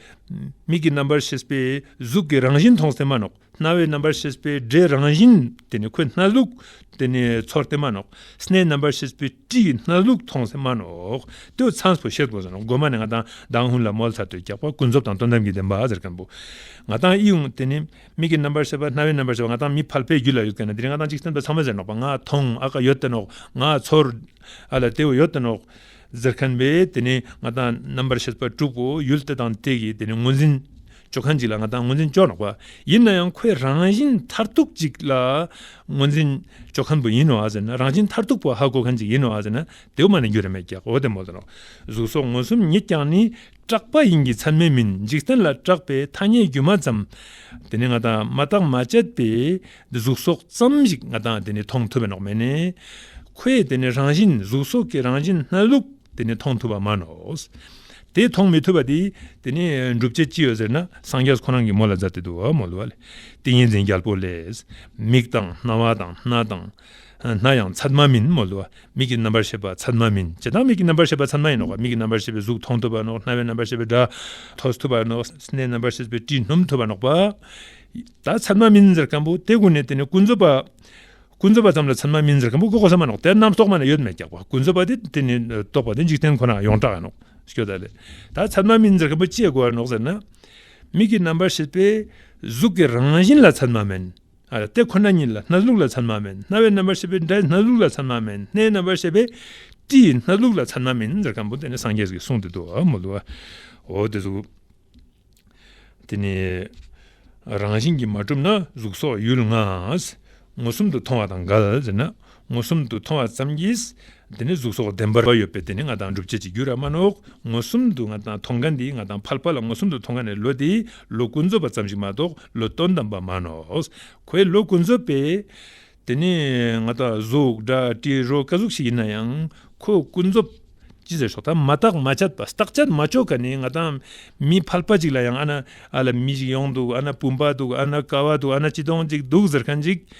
མིག་གི་རྣམ་པར་ཤེས་པས་གཟུགས་ཀྱི་རང་བཞིན་མཐོང་སྟེ་མ་ནོག་རྣ་བའི་རྣམ་པར་ཤེས་པས་སྒྲའི་རང་བཞིན་དེ་ནི་ཁོའི་སྣ་ཟུག་དེ་ནི་ཚོར་ཏེ་མ་ནོག་སྣའི་རྣམ་པར་ཤེས་པས་དྲིའི་སྣ་ཟུག་མཐོང་སྟེ་མ་ནོག་ཏུ་ཚངས་སུ་ཤེས་པོ་ཟ་ནོག་སྒོ་མ་ནི་ང་དང་དང་ཧུན་ལ་མོལ་ཚར་དུ་རྒྱག་པ་ཀུན་རྫོབ་དང་དོན་དམ་གྱི་བདེན་པ་ཟེར་མཁན་པོ་ང་དང་ཨི་ཡུང་དེ་ནི་མིག་གི་རྣམ་པར་ཤེས་པ་རྣ་བའི་རྣམ་པར་ཤེས་པ་ང་དང་མི་ཕལ་པའི་རྒྱུད་ལ་ཡོད་ཀྱི་ན་དེ་ནི་ང་དང་གཅིག་སེམས་དཔའ་ཚང་མ་ཟེར་ནོག་པ་ང་མཐོང་ཨ་ཀ་ཡོད་དེ་ནོག་ང་ཚོར་ཨ་ལ་དེ་བས་ཡོད་དེ་ནོག། ཟེར་མཁན་བས་དེ་ནི་ང་དང་རྣམ་པར་ཤེས་པ་དྲུག་པོ་ཡུལ་དེ་དང་དེ་གིས་དེ་ནི་ངོས་འཛིན་བྱོ་མཁན་ཅིག་ལ་ང་དང་ངོས་འཛིན་བྱོ་ནག་པ་ཡིན་ན་ཡང་ཁོས་རང་བཞིན་མཐར་ཐུག་ཅིག་ལ་ངོས་འཛིན་བྱོ་མཁན་པོ་ཡིན་ནོ་ཟེར་ན་རང་བཞིན་མཐར་ཐུག་པོ་ཧ་གོ་མཁན་ཅིག་ཡིན་ནོ་ཟེར་ན་དེའུ་མ་ནི་འགྱུར་རེ་མེད་ཀྱི་འོ་དེ་མོ་དང་གཟུགས་སོགས་མངོན་སུམ་ཉིད་ཀྱང་ནི་སྐྲག་པ་ཡིན་གྱི་ཚར་མེད་མིན་འཇིག་རྟེན་ལ་སྐྲག་པའི་ཐ་སྙད་སྒྱུ་མ་ཙམ། དེ་ནི་ང་དང་མ་བརྟགས་མ་དཔྱད་པའི་གཟུགས་སོགས་ཙམ་ཞིག་ང་དང་དེ་ནི་མཐོང་ཐུབ་པ་ནོག་མེད་ནས། ཁོས་དེ་ནི་རང་བཞིན་གཟུགས་སོགས་ཀྱི་རང་བཞིན་སྣ་ལུག་དེ་ནི་མཐོང་ཐུབ་པ་མ་ནོག། དེ་མཐོང་མི་ཐུབ་པ་དེ་དེ་ནི་སྒྲུབ་བྱེད་ཅི་ཡོད་ཟེར་ན་སངས་རྒྱས་ཁོ་རང་གིས་མོ་ལ་བཟའ་སྟེ་དུ་བ་མོ་ལུ་བ་ལས་ཏིང་ངེ་འཛིན་རྒྱལ་པོ་ལས། མིག་དང་རྣ་བ་དང་སྣ་དང། སྣ་ཡང་ཚད་མ་མིན་མོད་ལོ། མིག་གི་རྣམ་པར་ཤེས་པ་ཚད་མ་མིན། ཇི་ལྟར་མིག་གི་རྣམ་པར་ཤེས་པ་ཚད་མ་ཡིན་ནོ། མིག་གི་རྣམ་པར་ཤེས་པས་གཟུགས་མཐོང་ཐུབ་པ་ནོ། རྣ་བའི་རྣམ་པར་ཤེས་པས་སྒྲ་ཐོས་ཐུབ་པ་ནོ། སྣའི་རྣམ་པར་ཤེས་པས་དྲི་སྣོམ་ཐུབ་པ་ནོ། དག་ཚད་མ་མིན་ཟེར་གམ་བོ། དེ་ཀུན་ནས་དེ་ནི་ཀུན་རྫོབ་པ། ཀུན་རྫོབ་པ་ཙམ་ལ་ཚད་མ་མིན་ཟེར་གམ་བོ། ཀུན་རྫོབ་པ་ཚད་མ་མིན་ནོ། དེ་རྣམས་རྟོགས་པ་ནི་ཡོད་མེད་རྒྱགས་པ། ཀུན་རྫོབ་པ་དེ་དེ་ནི་རྟོགས་པ་དེ་འཇིག་རྟེན་ཁོ་ནའང་ཡོངས་གྲགས་ནོ། སྐྱོ་ད་ལས། དག་ཚད་མ་མིན་ཟེར་གམ་བོ་ཅེས་བསྒོ་བ་ནོ་ཟེར་ན། མིག་གི་རྣམ་པར་ཤེས་པས་གཟུགས་ཀྱི་རང་བཞིན་ལ་ཚད་མ་མིན། དེ་ཁོ་ན་ཉིད་ལ་སྣ་ཟུག་ལ་མཚན་མ་མེད་རྣ་བའི་རྣམ་པར་ཤེས་པས་སྒྲའི་སྣ་ཟུག་ལ་མཚན་མ་མེད་སྣའི་རྣམ་པར་ཤེས་པས་དྲི་ཡི་སྣ་ཟུག་ལ་མཚན་མ་མེད་འདིར་སྐམ་པོ་དེ་ནི་སངས་རྒྱས་ཀྱི་གསུང་དེ་དུ་མ་འདུག་གོ། དེ་གཟུགས་དེ་ནི་རང་བཞིན་གྱིས་མ་གྲུབ་ན་གཟུགས་སོགས་ཡུལ་ལྔའང་ངོ་གསུམ་དུ་མཐོང་བ་དང་འགལ་ཟེར་ན་མངོན་སུམ་དུ་མཐོང་བ་ཙམ་གྱིས་དེ་ནི་གཟུགས་སོགས་བདེན་པར་ཡོད་པས་དེ་ནི་ང་དང་སྒྲུབ་བྱེད་ཀྱི་རྒྱུ་ར་མ་ནོག་མངོན་སུམ་དུ་ང་དང་མཐོང་ག་འདི་ང་དང་ཕལ་པ་ལ་མངོན་སུམ་དུ་མཐོང་ག་ནི་ལོ་དེའི་ལོ་ཀུན་རྫོབ་པ་ཙམ་ཞིག་མ་གཏོགས་ལོ་སྟོང་དང་པ་མ་ནོག་གོའི་ལོ་ཀུན་རྫོབ་པས་དེ་ནི་ང་དང་གཟུགས་སྒྲ་དྲི་རོ་ཀ་གཟུགས་ཤིག་ཡིན་ན་ཡང་ཁོའི་ཀུན་རྫོབ་ཅི་ཟེར་ཞོག་ད་མ་བརྟག་མ་དཔྱད་པ་བརྟག་དཔྱད་མ་ལྕོགས་ག་ནི་ང་དང་མི་ཕལ་པ་ཅིག་ལ་ཡང་ཨ་ན་ཨ་ལ་མི་ཞིག་ཡོང་འདུག་ཨ་ན་བུམ་པ་འདུག་ཨ་ན་ཀ་བ་འདུག་ཨ་ན་སྤྱི་སྟོང་གཅིག་འདུག་ཟེར་མཁན་ཅིག་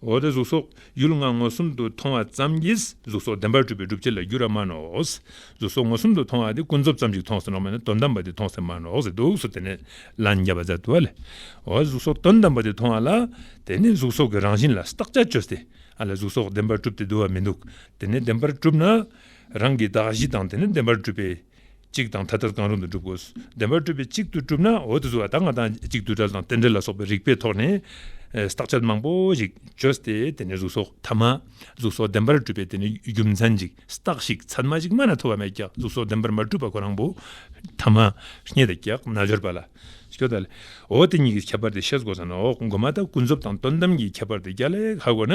འོ་དེ་གཟུགས་སོགས་ཡུལ་ལྔ་མངོན་སུམ་དུ་མཐོང་བ་ཙམ་གྱིས་གཟུགས་སོགས་བདེན་པར་གྲུབ་པའི་སྒྲུབ་བྱེད་ལ་འགྱུར་བ་མ་ནོ། གཟུགས་སོགས་མངོན་སུམ་དུ་མཐོང་བ་དེ་ཀུན་རྫོབ་ཙམ་ཞིག་མཐོང་ཟེར་ནོ་མ་ནི་དོན་དམ་པ་དེ་མཐོང་ཟེར་མ་ནོ་ཟེར་འདུག་གཟུགས་དེ་ནི་ལ་ནི་བརྒྱ་པ་ཛཱ་ཏུ་ལས། འོ་གཟུགས་སོགས་དོན་དམ་པ་དེ་མཐོང་བ་ལ་དེ་ནི་གཟུགས་སོགས་ཀྱི་རང་བཞིན་ལ་བརྟག་བྱར་བཅོས་ཏེ་ཨ་ལས་གཟུགས་སོགས་བདེན་པར་གྲུབ་སྟེ་འདུལ་བ་མི་འདུག་དེ་ནི་བདེན་པར་གྲུབ་ན་རང་གི་གདགས་གཞི་དང་དེ་ནི་བདེན་པར་གྲུབ་པའི་གཅིག་དང་ཐ་དད་གང་རུང་དུ་སྒྲུབ་དགོས། བདེན་པར་སྤྲོས་པའི་གཅིག་ཏུ་གྲུབ་ན་འོད་དུ་ཟེར་བ་དག་ང་དང་གཅིག་ཏུ་བྲལ་དང་རྟེན་འབྲེལ་ལ་སོགས་པའི་རིགས་པའི་ཐོག་ནས་བརྟག་དཔྱད་མང་པོ་ཞིག་བཅོས་ཏེ་དེ་ནས་གཟུགས་སོགས་ཐ་མ། གཟུགས་སོགས་བདེན་པར་གྲུབ་པའི་དེ་ནས་རྒྱུ་མཚན་ཅིག་བརྟགས་ཤིག་ཚད་མ་ཞིག་མ་ན་ཐོ་བ་མེད་ཀྱང་གཟུགས་སོགས་བདེན་པར་མ་གྲུབ་པ་ཁོ་རང་བུ་ཐ་མ། རྙེད་དེ་ཀྱག་ན་སྦྱོར་བ་ལ། ཤོ་ད་ལ། འོ་དེ་གཉིས་ཀྱི་ཁྱད་པར་དེ་ཤེས་དགོས་ས་ནི་འོག་མགོ་མ་དག་ཀུན་རྫོབ་དང་དོན་དམ་གྱི་ཁྱད་པར་དེ་རྒྱ་ལས་ཧ་གོ་ན་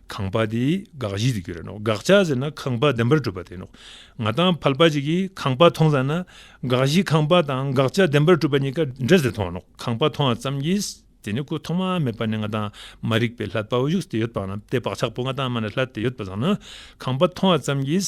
ཁང་པ་དེ་དགག་གཞི་དུ་གྱུར་ར་ནོ། དགག་བྱ་ཟེར་ན་ཁང་པ་བདེན་པར་གྲུབ་པ་དེ་ནོ། ང་དང་ཕལ་པ་ཅིག་གིས་ཁང་པ་མཐོང་ཙམ་ན། དགག་གཞི་ཁང་པ་དང་དགག་བྱ་བདེན་པར་གྲུབ་པ་གཉིས་ཀ་འདྲ་ཟེར་མཐོང་བ་ནོ། ཁང་པ་མཐོང་བ་ཙམ་གྱིས་དེ་ནི་སྐུ་ཐོག་མ་མེད་པ་ནི་ང་དང་མ་རིག་པའི་ལྷ་དཔའ་བོ་བཞུགས་སྟེ་ཡོད་པ་ན་དེ་བག་ཆགས་པོ་ང་དང་མ་ནི་ལྷ་དེ་ཡོད་པ་བཟང་ན། ཁང་པ་མཐོང་བ་ཙམ་གྱིས་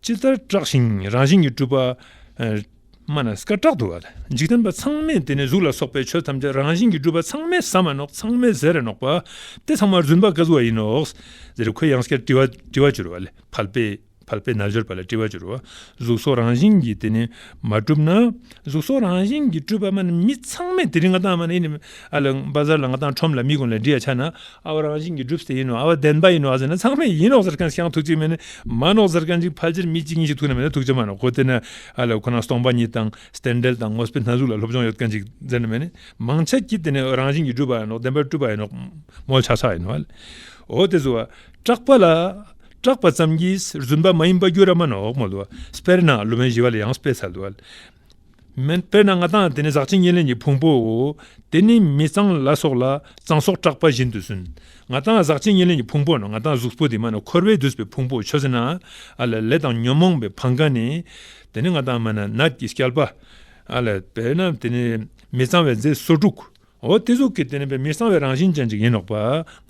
ཅི་ལྟར་བཀྲག་ཞིང་རང་བཞིན་གྱིས་སྤྲུལ་པ། སྨྲ་ན་སྐར་ཁྲག་འདུ་བ་དང་འཇིག་རྟེན་པ་ཚང་མས་དེ་ནས་གཟུགས་ལ་སོགས་པའི་ཆོས་ཐམས་ཅད་རང་བཞིན་གྱིས་སྤྲུལ་པ་ཚང་མས་ཟ་མ་ནོག་ཚང་མས་ཟས་རེ་ནོག་པ་སྟེ་ཚང་མར་བརྫུན་པ་བཀའ་བཟོ་བ་ཡིན་ནོ། འདི་རུ་ཁོད་ཡངས་སྐྱར་དྲི་བ་བྱུར་བ་ལས་ཕལ་པའི་ན་བྱུར་པ་ལ་དྲི་བ་བྱུར་བ་གཟུགས་སོགས་རང་བཞིན་གྱིས་དེ་ནས་མ་གྲུབ་ན། གཟུགས་སོགས་རང་བཞིན་གྱིས་སྤྲུལ་པ་པདྨ་ནི་མི་ཚང་མས་དེ་རིང་ང་བཏང་བ་ནི་ཨ་ལ་འབའ་གཟར་ལ་ང་བཏང་ཁྲོམ་ལ་མི་དགོན་ལ་འདྲི་ཡ་ཆ་ན་ཨ་བ་རང་བཞིན་གྱིས་སྒྲུབ་སེ་ཡིན་ནོ་ཨ་བ་བདེན་པ་ཡིན་ནོ་ཟེར་ན་ཚང་མས་ཡིན་ནོ་ཟེར་མཁན་ཤངས་ཐུགས་གཅིག་མེད་ནི་མ་ནོ་ཟེར་མཁན་གཅིག་ཕལ་ཆེར་མི་གཅིག་གཉིས་ཤིག་ཐུགས་ན་མེད་ན་ཐུགས་ཆེ་མ་ནོ་གོ་དེ་ནི་ཨ་ལ་ཁོ་ན་སྟོང་པ་ཉིད་དང་སྟན་འགྲེལ་དང་ངོ་སྤེལ་སྣ་ཟུག་ལ་སློབ་སྦྱོང་ཡོད་མཁན་གཅིག་ཟེར་ན་མེད་ནི་མང་ཆེ་གྱིས་དེ་ནི་རང་བཞིན་གྱིས་སྒྲུབ་པ་ཡིན་ནོ་བདེན་པར་སྤྲུལ་པ་ཡིན་ནོ་མོ་ཆགས་ཆགས་ཡིན་ནོ་ཨོ་དེ་ཚོ་བ་སྐྲག་པ་ལ་སྐྲག་པ་ཙམ་གྱིས་རྫུན་པ་མ་ཡིན་པ་རྒྱུ་ར་མ་ནོག་མོ་ལོ་སྤེར་ན་ལོ་མའི་བཞི་བ་ལ་ཡང་སྤེ་ས་ལོ་མེན་སྤེར་ན་ང་དང་དེ་ནི་ཟག་བཅས་གཉིས་ལས་ནི་ཕུང་པོའོ་དེ་ནི་མི་གཙང་ལ་སོགས་ལ་གཙང་སོགས་སྐྲག་པ་བཞིན་དུ་སུན་ང་དང་ཟག་བཅས་གཉིས་ལས་ནི་ཕུང་པོ་ན་ང་དང་གཟུགས་པོ་དེ་མ་ན་འཁོར་བས་བསྡུས་པའི་ཕུང་པོ་ཆོས་ན་ཨ་ལ་ལས་དང་ཉོན་མོངས་པའི་བང་ག་ནི་དེ་ནི་ང་དང་མ་ན་ནད་ཀྱི་སྐྱལ་པ་ཨ་ལ་སྤེར་ན་དེ་ནི་མི་གཙང་བའི་རྫས་སོ་དྲུག་འོ་དེ་གཟུགས་ཀྱི་དེ་ནི་བས་མི་གསང་བའི་རང་བཞིན་ཅན་ཅིག་ཡིན་ནོག་པ།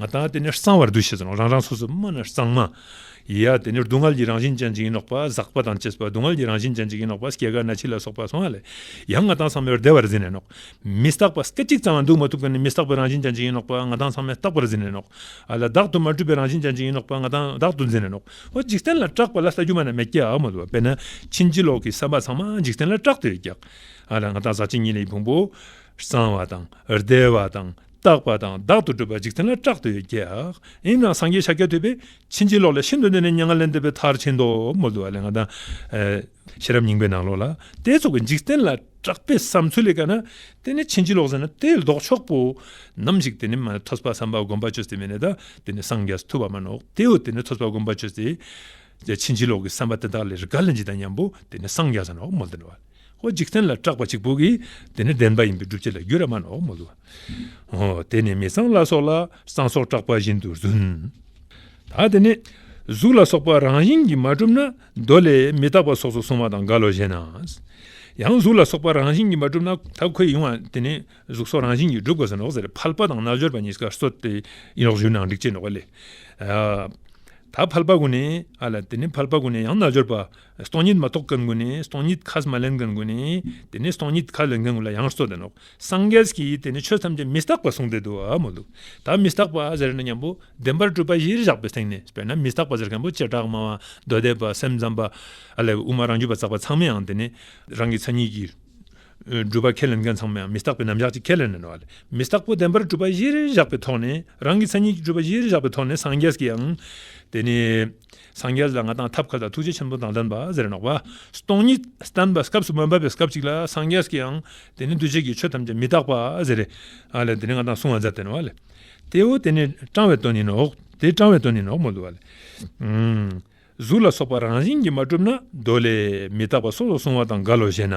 ང་དང་དེ་ནི་གསང་བར་འདུ་ཤེས་སོ། རང་རང་སོ་སོའི་སྨྲ་ནི་གསང་མ། ཡི་ཡ་དེ་ནི་སྡུག་བསྔལ་གྱི་རང་བཞིན་ཅན་ཅིག་ཡིན་ནོག་པ་ཟག་པ་དང་བཅས་པ་སྡུག་བསྔལ་གྱི་རང་བཞིན་ཅན་ཅིག་ཡིན་ནོག་པ་སྐྱེ་རྒ་ན་འཆི་ལ་སོགས་པ་གསང་བ་ལས་ཡང་ང་དང་གསང་མའི་བདེ་བར་ཟིན་ནས་ནོག། མི་རྟག་པ་སྐད་ཅིག་ཙམ་ཡང་འདུག་མ་ཐུབ་ཀྱང་ནི་མི་རྟག་པའི་རང་བཞིན་ཅན་ཅིག་ཡིན་ནོག་པ་ང་དང་གསང་མའི་རྟག་པར་ཟིན་ནས་ནོག། ཨ་ལ་བདག་ཏུ་མ་གྲུབ་པའི་རང་བཞིན་ཅན་ཅིག་ཡིན་ནོག་པ་ང་དང་བདག་ཏུ་ཟིན་ནས་ནོག། འོ་འཇིག་རྟེན་ལ་སྐྲག་པ་ལ་ས་སྒྱུ་མ་ན་མེ་སྐྱེ་འམ་འོ་དཔེར་ན་ཕྱིན་ཅི་ལོག་གི་བསམ་པ་ཚང་མ་འཇིག་རྟེན་ལ་སྐྲག་སྟེ་ཀྱག། ཨ་ལ་ང་དང་ཟག་བཅས་གཉིས་ལས་ཀྱི་ཕུང་པོ། གསང་བ་དང་བདེ་བ་དང་རྟག་པ་དང་བདག་ཏུ་གྲུབ་པ་འཇིག་རྟེན་ལ་བཀྲག་ཏུ་ཡོད་ཀྱང་ཡིན་ནའང་སངས་རྒྱས་ཤཱཀྱ་ཐུབ་པས་ཕྱིན་ཅི་ལོག་ལས་ཤིན་ཏུ་འདས་ནས་མྱ་ངན་ལས་འདས་པའི་མཐར་ཕྱིན་ཏོ། མོ་དུ་བ་ལས་ང་དང། ཤེས་རབ་སྙིང་པོའི་ནང་ལོགས་ལ་དེ་ཚོགས་ཀྱི་འཇིག་རྟེན་ལ་བཀྲག་པའི་བསམ་ཚུལ་ལས་དགའ་ན་དེ་ནི་ཕྱིན་ཅི་ལོག་ཟེར་ན་དེ་ལྡོག་ཕྱོགས་པོ། ནམ་ཞིག་དེ་ནི་མ་ཐོས་པ་བསམ་པ་སྒོམ་པ་ཆོས་སྟེ་མེད་ནས་ད་དེ་ནི་སངས་རྒྱས་སུ་ཐུབ་པ་མ་ནོག་དེའོ་དེ་ནི་ཐོས་པ་སྒོམ་པ་ཆོས་སྟེ། ཕྱིན་ཅི་ལོག་གི་བསམ་པ་དེ་དག་ལས་རི་ག་ལ་འཇིག་དང་མཉམ་པོ་དེ་ནི་སངས་རྒྱས་སུ་ནོག་མོ་དུ་བ། ཧོ་འཇིག་རྟེན་ལ་སྐྲག་པ་གཅིག་པུ་གིས་དེ་ནི་བདེན་པ་ཡིན་པའི་སྒྲུབ་བྱེད་ལ་རྒྱུད་ར་མ་ནོར་མོ་ལུ། དེ་ནི་མི་སྲང་ལ་སོགས་ལ་སྲང་སོགས་སྐྲག་པ་བཞིན་དུ་བཟུང། ད་དེ་ནི་གཟུགས་ལ་སོགས་པ་རང་བཞིན་གྱིས་མ་གྲུབ་ན་མདོ་ལས་མི་རྟག་པ་སོགས་སུ་གསུངས་བ་དང་འགལ་ལོ་ཞེ་ན། ཡང་གཟུགས་ལ་སོགས་པ་རང་བཞིན་གྱིས་མ་གྲུབ་ན་ད་ཁོད་ཡིན་བ་དེ་ནི་གཟུགས་སོགས་རང་བཞིན་གྱིས་གྲུབ་དགོས་སོ་ནོག་ཟེར་ཕལ་པ་དང་རྣལ་འབྱོར་པ་གཉིས་ཀ་སོ་སྟེ་ཡིན་ནོག་ཞུས་ན་འགྲིག་ཅེས་ནོག་པ་ལས། ད་ཕལ་པ་ཀུན་ནས་ཨ་ལ་དེ་ནི་ཕལ་པ་ཀུན་ནས་ཡང་རྣལ་འབྱོར་པ་སྟོང་ཉིད་མ་རྟོགས་ཀར་མགོ་ནས་སྟོང་ཉིད་ཁས་མ་ལེན་ཀར་མགོ་ནས་དེ་ནས་སྟོང་ཉིད་ཁས་ལེན་ཀར་མགོ་ལ་ཡང་སོ་དེ་ནོ། སངས་རྒྱས་ཀྱིས་དེ་ནི་ཆོས་ཐམས་ཅད་མི་རྟག་པར་གསུངས་ཏེ་དུ་བ་མོ་འདུག་ད་མི་རྟག་པ་ཟེར་ན་མཉམ་པོ་བདེན་པར་སྤྲུལ་པ་གཞིར་བཞག་པའི་སྟེང་ནས་དཔེར་ན་མི་རྟག་པ་ཟེར་མཁན་པོ་བྱེ་བྲག་སྨྲ་བ་མདོ་སྡེ་པ་སེམས་ཙམ་པ། ཨ་ལས་དབུ་མ་རང་རྒྱུད་པ་བཙགས་པ་ཚང་མའང་དེ་ནི་རང་གི་མཚན་ཉིད་ཀྱིས། སྒྲུབ་པ་ཁས་ལེན་མཁན་ཚང་མའང་མི་རྟག་པའི་རྣམ་གཞག་ཅིག་ཁས་ལེན་ནས་ནོ། མི་རྟག་པོ་བདེན་པར་སྤྲུལ་པ་གཞིར་བཞག་པའི་ཐོག་ནས་རང་གི་མཚན་ཉིད་ཀྱི་སྤྲུལ་པ་གཞིར་བཞག་པའི་ཐོག་ནས་སངས་རྒྱས་ཀྱིའང་དེ་ནི། སངས་རྒྱས་ལ་ང་དང་ཐབས་མཁས་དང་ཐུགས་རྗེ་ཆེན་པོ་དང་ལྡན་པ་ཟེར་ནོག་པ། སྟོང་ཉིད་བསྟན་པའི་སྐབས་སུ་མ་འབབ་པའི་སྐབས་གཅིག་ལ་སངས་རྒྱས་ཀྱི་ཡང་དེ་ནི་འདུ་བྱེད་ཀྱི་ཆོས་ཐམས་ཅད་མི་རྟག་པ་ཟེར་རེ། ལ་དེ་ནི་ང་དང་གསུང་བ་མཛད་དེ་ནོ། དེའོ་དེ་ནི་སྤྲང་བའི་དོན་ཡིན་ནོ། དེ་སྤྲང་བའི་དོན་ཡིན་ནོ། གཟུགས་ལ་སོགས་པ་རང་བཞིན་གྱིས་མ་གྲུབ་ན་མདོ་ལས། མི་རྟག་པ་སོགས་ལ་གསུང་བ་དང་འགལ་ལོ་ཞེ་ན།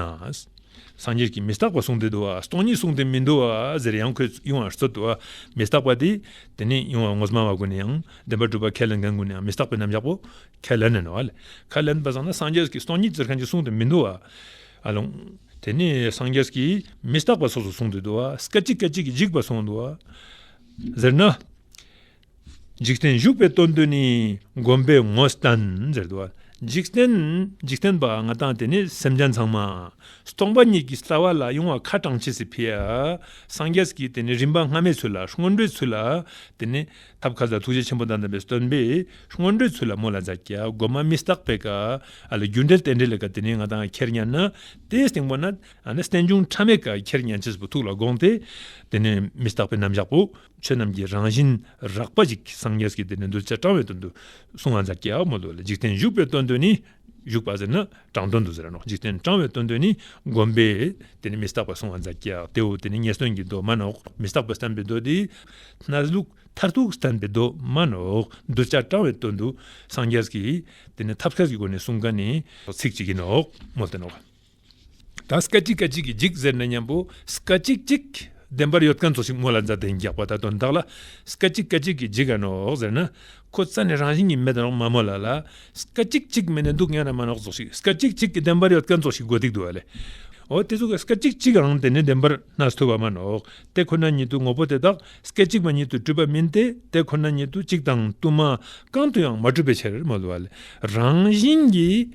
སངས་རྒྱས་ཀྱིས་མི་རྟག་པ་གསུངས་ཏེ་འདུ་བ་སྟོང་ཉིད་གསུངས་ཏེ་མི་འདུ་བ་ཟེར་ཡང་ཁོས་དབྱུང་བ་སོགས་འདུ་བ་མི་རྟག་པ་དེ་དེ་ནི་དབྱུང་བ་ངོ་སྨྲ་བ་ཀུན་ནས་ཡང་བདེན་པ་སྒྲུབ་པར་ཁས་ལེན་མཁན་ཀུན་ནས་ཡང་མི་རྟག་པའི་རྣམ་གཞག་པོ་ཁས་ལེན་ནས་ནོ། ཁས་ལེན་པ་ཙམ་ན་སངས་རྒྱས་ཀྱི་སྟོང་ཉིད་ཟེར་མཁན་གྱི་གསུང་དུ་མི་འདུ་བ། དེ་ནི་སངས་རྒྱས་ཀྱིས་མི་རྟག་པ་སོགས་སུ་གསུང་དུ་འདུ་བ། སྐད་ཅིག་སྐད་ཅིག་གིས་འཇིག་པར་གསུང་འདུ་བ། ཟེར་ན། འཇིག་རྟེན་བཞུགས་པའི་སྟོན་དུ་ནི་བསྒོམ་པའི་ངོ་བསྟན་ཟེར་འདུ་བ། འཇིག་རྟེན་པ་ང་དང་དེ་ནི་སེམས་ཅན་ཚང་མ། སྟོང་པ་ཉིད་ཀྱི་ལྟ་བ་ལ་དབྱུང་བ་ཁ་གྲངས་ཆེ་སྲིད། སངས་རྒྱས་ཀྱིས་དེ་ནི་རིམ་པ་སྔ་མའི་ཚུལ་ལ་སྔོན་འགྲོའི་ཚུལ་ལ་དེ་ནི། ཐབས་མཁའ་འཛག་ཐུགས་རྗེ་ཆེན་པོ་དང་ལྡན་པའི་སྟོན་པས་སྔོན་འགྲོའི་ཚུལ་ལ་མོ་ལ་འཛག་བརྒྱ་སྒོ་མ་མི་རྟག་པའི་ཀ། ཨ་ལ་རྒྱུ་འབྲས་རྟེན་འབྲེལ་ལས་ཀ་དེ་ནས་ང་དང་ཁྱེར་སྙམ་ན། དེའི་སྟེང་པོ་ན། རྟེན་འབྱུང་ཕྲ་མེན་ཀ་ཁྱེར་སྙམ་བྱེད་པོ་ཐུགས་ལ་དགོངས་ཏེ། དེ་ནས་མི་རྟག་པའི་རྣམ་གཞག་པོ། ཆོས་རྣམས་ཀྱི་རང་བཞིན་རགས་པ་ཅིག་སངས་རྒྱས་ཀྱིས་དེ་ནས་གདུལ་བྱ་སྤྲང་བའི་དོན་དུ་གསུངས་ཨ་འཛག་བརྒྱ་མོ་ལུས་ལ་འཇིག་རྟེན་བཞུགས་པའི་དོན་དུ་ནི། བཞུགས་པ་ཟེར་ན་དྲང་དོན་དུ་ཟེར་ནོ་འཇིག་རྟེན་དྲང་བའི་དོན་དུ་ནི་བསྒོམས་པས་དེ་ནི་མི་རྟག་པར་སོང་བ་འཛག་རྒྱག་དེའོ་དེ་ནི་ངན་སོང་གི་གདོད་མ་ནོག་མི་རྟག་པར་བསྟན་པའི་མདོ་སྡེ་སྣར་ལུགས་མཐར་ཐུག་བསྟན་པའི་གདོད་མ་ནོག་གདུལ་བྱ་དྲང་བའི་དོན་དུ་སངས་རྒྱས་ཀྱིས་དེ་ནི་ཐབས་མཁས་ཀྱི་སྒོ་ནས་གསུངས་ཀ་ནི་ཚིག་གཅིག་གིས་ནོག་མོ་སྟེ་ནོག། ད་སྐད་ཅིག་སྐད་ཅིག་གིས་འཇིག་ཟེར་ན་སྙམ་པོ། སྐད་ཅིག་གཅིག། བདེན་པར་ཡོད་མཁན་ཚོ་ཞིག་མོ་ལ་མཛའ་བདེ་རྒྱག་པ་ད་དུང་བདག་ལ། སྐད་ཅིག་སྐད་ཅིག་གིས་འཇིག་ག་ནོ་འོག་ཟེར་ན། ཁོ་རྩ་ནས་རང་བཞིན་གྱིས་མེད་དོ་འོག་མ་མོ་ལ་ལ། སྐད་ཅིག་གཅིག་མེད་ནས་འདུག་སྙམ་ན་མ་ནོག་ཚོ་ཞིག་སྐད་ཅིག་གཅིག་གིས་བདེན་པར་ཡོད་མཁན་ཚོ་ཞིག་དགོས་སྡིག་འདུག་ལེ། འོ་དེ་ཚོ་གི་སྐད་ཅིག་གཅིག་གང་དེ་ནི་བདེན་པར་སྣ་ཚོས་བ་མ་ནོག་དེ་ཁོ་ན་ཉིད་དུ་ངོ་བོ་དེ་དག་སྐད་ཅིག་མ་ཉིད་དུ་གྲུབ་པ་མིན་ཏེ་དེ་ཁོ་ན་ཉིད་དུ་གཅིག་དང་དུ་མ་གང་དུ་ཡང་མ་གྲུབ་པའི་ཕྱིར་མོ་ལ་ལ། རང་བཞིན་གྱིས།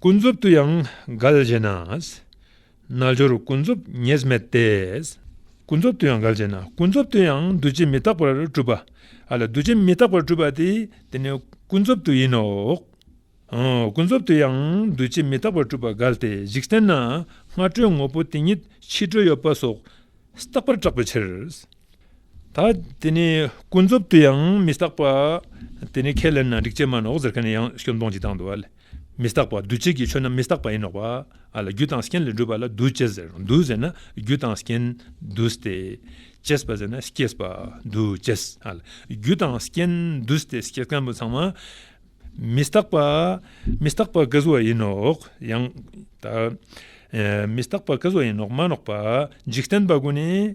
ཀུན་རྫོབ་ཏུ་ཡང་འགལ་བྱེད་ན། རྣལ་འབྱོར་ཀུན་རྫོབ་ངེས་མེད་དེ། ཀུན་རྫོབ་ཏུ་ཡང་འགལ་བྱེད་ན་ཀུན་རྫོབ་ཏུ་ཡང་འདུ་བྱེད་མི་རྟག་པར་སྤྲུལ་པ། འདུ་བྱེད་མི་རྟག་པར་སྤྲུལ་པ་དེ་དེ་ནི་ཀུན་རྫོབ་ཏུ་ཡིན་ནོ། ཀུན་རྫོབ་ཏུ་ཡང་འདུ་བྱེད་མི་རྟག་པར་སྤྲུལ་པ་འགལ་ཏེ་འཇིག་རྟེན་ན་སྔ་དྲོའི་ངོ་བོ་དེ་ཉིད་ཕྱི་དྲོའི་ཡོད་པ་སོགས་རྟག་པར་གྲགས་པའི་ཕྱིར། ད་དེ་ནི་ཀུན་རྫོབ་ཏུ་ཡང་མི་རྟག་པ། དེ་ནི་ཁས་ལེན་ན་སྒྲིག་ཆས་མ་ནོག་ཟེར་མཁན་ཡང་སྐྱོན་སྟོང་གཅིག་དང་དུ་བ་ལས་མི་རྟག་པ་འདུ་བྱེད་ཀྱི་ཆོས་རྣམས་མི་རྟག་པ་ཡིན་ནོག་པ་ལ་རྒྱུ་དང་རྐྱེན་ལས་གྲུབ་པ་ལ་འདུ་བྱེད་ཟེར་འདུ་ཟེར་ན་རྒྱུ་དང་རྐྱེན་འདུ་སྟེ་སྐྱེས་པ་ཟེར་ན་སྐྱེས་པ་འདུ་བྱེད་ལ་རྒྱུ་དང་རྐྱེན་འདུ་སྟེ་སྐྱེས་སྐམ་པོ་ཚང་མ་མི་རྟག་པ་མི་རྟག་པ་ཀུན་རྫོབ་ཡིན་ནོག་ཡང་དག་མི་རྟག་པ་ཀུན་རྫོབ་ཡིན་ནོག་མ་ནོག་པ་འཇིག་རྟེན་པ་ཀུན་ནས་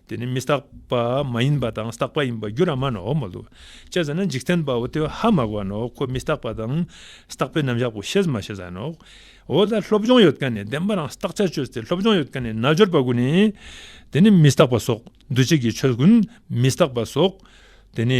དེ་ནི་མི་རྟག་པ་མ་ཡིན་པ་དང་རྟག་པ་ཡིན་པ་རྒྱུ་རང་མ་ནའོ་མ་ལུས་ཅེས་བྱ་ན་འཇིག་རྟེན་པའོ་སྟེ་ཧ་མ་གོ་བ་ནའོ་ཁོ་མི་རྟག་པ་དང་རྟག་པའི་རྣམ་གཞག་གོ་ཞེས་མ་བྱས་བ་ནའོ། འོ་ད་སློབ་སྦྱོང་ཡོད་དཀའ་ནས་བདེན་པ་རང་རྟག་ཆ་ཆོས་དེ་སློབ་སྦྱོང་ཡོད་དཀའ་ནས་ན་སྦྱོར་བ་ཀུན་ནས། དེ་ནི་མི་རྟག་པ་སོགས་འདུ་བྱེད་ཀྱི་ཆོས་ཀུན་མི་རྟག་པ་སོགས་དེ་ནི།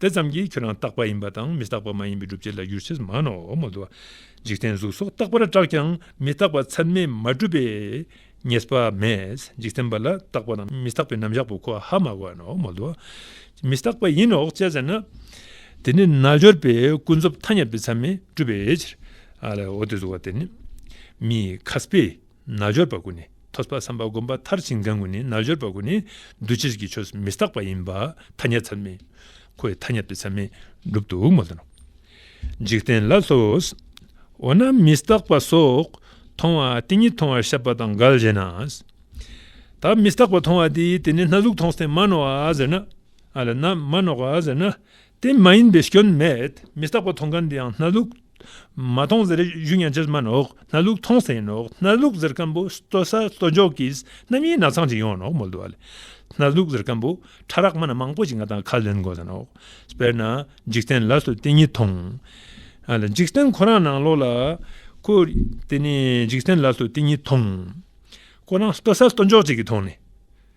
དེ་ཙམ་གྱིས་ཁྱོད་རང་རྟག་པ་ཡིན་པ་དང་མི་རྟག་པ་མ་ཡིན་པའི་སྒྲུབ་བྱེད་ལ་གྱུར་ཕྱིར་མ་ནོར། འཇིག་རྟེན་གཟུགས་སོགས་རྟག་པར་བསྒྲགས་ཀྱང་མི་རྟག་པ་ཚད་མས་མ་གྲུབ་པས་ངེས་པ་མེད། འཇིག་རྟེན་པ་ལ་རྟག་པ་དང་མི་རྟག་པའི་རྣམ་གཞག་པོ་ཁོ་ཧ་མ་གོ་ནོ། མི་རྟག་པ་ཡིན་ནོ་ཅེས་ཟེར་ན། དེ་ནི་རྣལ་འབྱོར་པས་ཀུན་རྫོབ་ཐ་སྙད་པའི་ཚད་མས་གྲུབ་པའི་ཕྱིར། འོ་དེ་གཟུགས་བ་དེ་ནི་མི་ཁ་སྤེ། རྣལ་འབྱོར་པ་ཀུན་ནས་ཐོས་པ་བསམ་པ་བསྒོམ་པ་མཐར་ཕྱིན་གང་ཀུན་ནས་རྣལ་འབྱོར་པ་ཀུན་ནས་འདུ་བྱེད་ཀྱི་ཆོས་མི་རྟག་པ་ཡིན་པ་ཐ་སྙད་ཚད་མས་ཁོ་ཡི་ཐ་སྙད་པའི་ཚད་མས་འགྲུབ་ཏུ་མ་ལོན་ནོ། འཇིག་རྟེན་ལ་ལྷོས། འོ་ན་མི་རྟག་པ་སོགས་མཐོང་བ་དེ་ཉིད་མཐོང་བར་ཤེས་པ་དང་འགལ་ཞེ་ན། ད་མི་རྟག་པ་མཐོང་བ་དེ་དེ་ནི་སྣ་ཟུག་མཐོང་སྟེ་མ་ནོར་བ་ཟེར་ན། མ་ནོར་བ་ཟེར་ན་དེ་མ་ཡིན་པའི་སྐྱོན་མེད་མི་རྟག་པ་མཐོང་མཁན་དེ་ཡང་སྣ་ལུག། མ་མཐོང་ཟེར་གཞུ་ཉན་ཆེར་སྨྲ་ནོག་སྣ་ལུག་མཐོང་ཟེར་ནོག་སྣ་ལུག་ཟེར་མཁན་པོ་ལྟོ་ས་ལྟོ་འཇོག་གིས་རྣམ་གཡེང་ནག་ཚང་ཅིག་ཡོང་ནོག་མོ་ལྟོ་བ་ལས་སྣ་ལུག་ཟེར་མཁན་པོ་ཕྲ་རགས་མ་ན་མང་པོ་ཅིག་ང་དང་ཁ་ལེན་དགོས་ཟེར་ནོག་དཔེར་ན་འཇིག་རྟེན་ལ་སོ་དེ་གཉིས་མཐོང། འཇིག་རྟེན་ཁོ་རང་ནང་ལོག་ལ་ཁོ་དེ་ནས་འཇིག་རྟེན་ལ་སོ་དེ་གཉིས་མཐོང། ཁོ་རང་ལྟོ་ས་ལྟོ་འཇོག་ཅིག་གིས་མཐོང་ནས།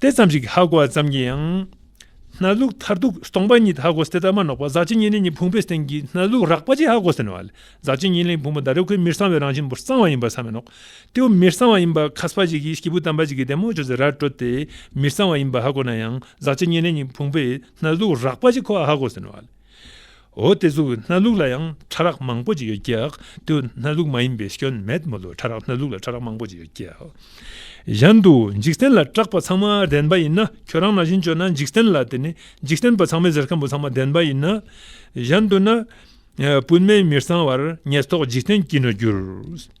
ཏེ་ཙམ་ཞིག་གི་ཧ་གོ་བ་ཙམ་གྱིས་ཡང། སྣ་ལུགས་མཐར་ཐུག་སྟོང་པ་ཉིད་ཧ་གོ་སྟེ་རྟགས་མ་ནོག་པ་ཟག་བཅས་གཉིས་ལས་གཉིས་ཕུང་པོའི་སྟེང་གི་སྣ་ལུགས་རགས་པ་ཅིག་ཧ་གོ་ཟིན་བ་ལས་ཟག་བཅས་གཉིས་ལས་ཕུང་པོ་འདའ་རེ་ཁོའི་མིར་གསང་བའི་རང་བཞིན་པོར་གསང་བ་ཡིན་པར་བསམ་མི་ནོག་སྟེའོ་མིར་གསང་བ་ཡིན་པར་ཁ་སྤ་ཞིག་གིས་སྐྱེས་བུ་དམ་པ་ཅིག་གི་དད་མོས་བྱོས་ཚེ་ར་སྤྲོད་དེ་མིར་གསང་བ་ཡིན་པར་ཧ་གོ་ན་ཡང་ཟག་བཅས་གཉིས་ལས་གཉིས་ཕུང་པོའི་སྣ་ལུགས་རགས་པ་ཅིག་ཁོ་ཨ་ཧ་གོ་ཟིན་བ་ལས། འོ་དེ་ཚོའི་སྣ་ལུག་ལ་ཡང་ཕྲ་རགས་མང་པོ་ཅིག་ཡོད་ཀྱག་དུ་སྣ་ལུག་མ་ཡིན་པའི་སྐྱོན་མེད་མོད་ལོ་ཕྲ་རགས་སྣ་ལུག་ལ་ཕྲ་རགས་མང་པོ་ཅིག་ཡོད་ཀྱག་གཞན་དུ་འཇིག་རྟེན་ལ་གྲགས་པ་ཚང་མ་བདེན་པ་ཡིན་ན་ཁྱོད་རང་ན་བཞིན་བྱོས་ན་འཇིག་རྟེན་ལ་དེ་ནི་འཇིག་རྟེན་པ་ཚང་མའི་ཟེར་མཁན་པོ་ཚང་མ་བདེན་པ་ཡིན་ན་གཞན་དུ་ན་སྤུན་མེད་མིར་ཚང་བར་ངས་ཐོག་འཇིག་རྟེན་སྐྱིད་ནོ་གྱུར།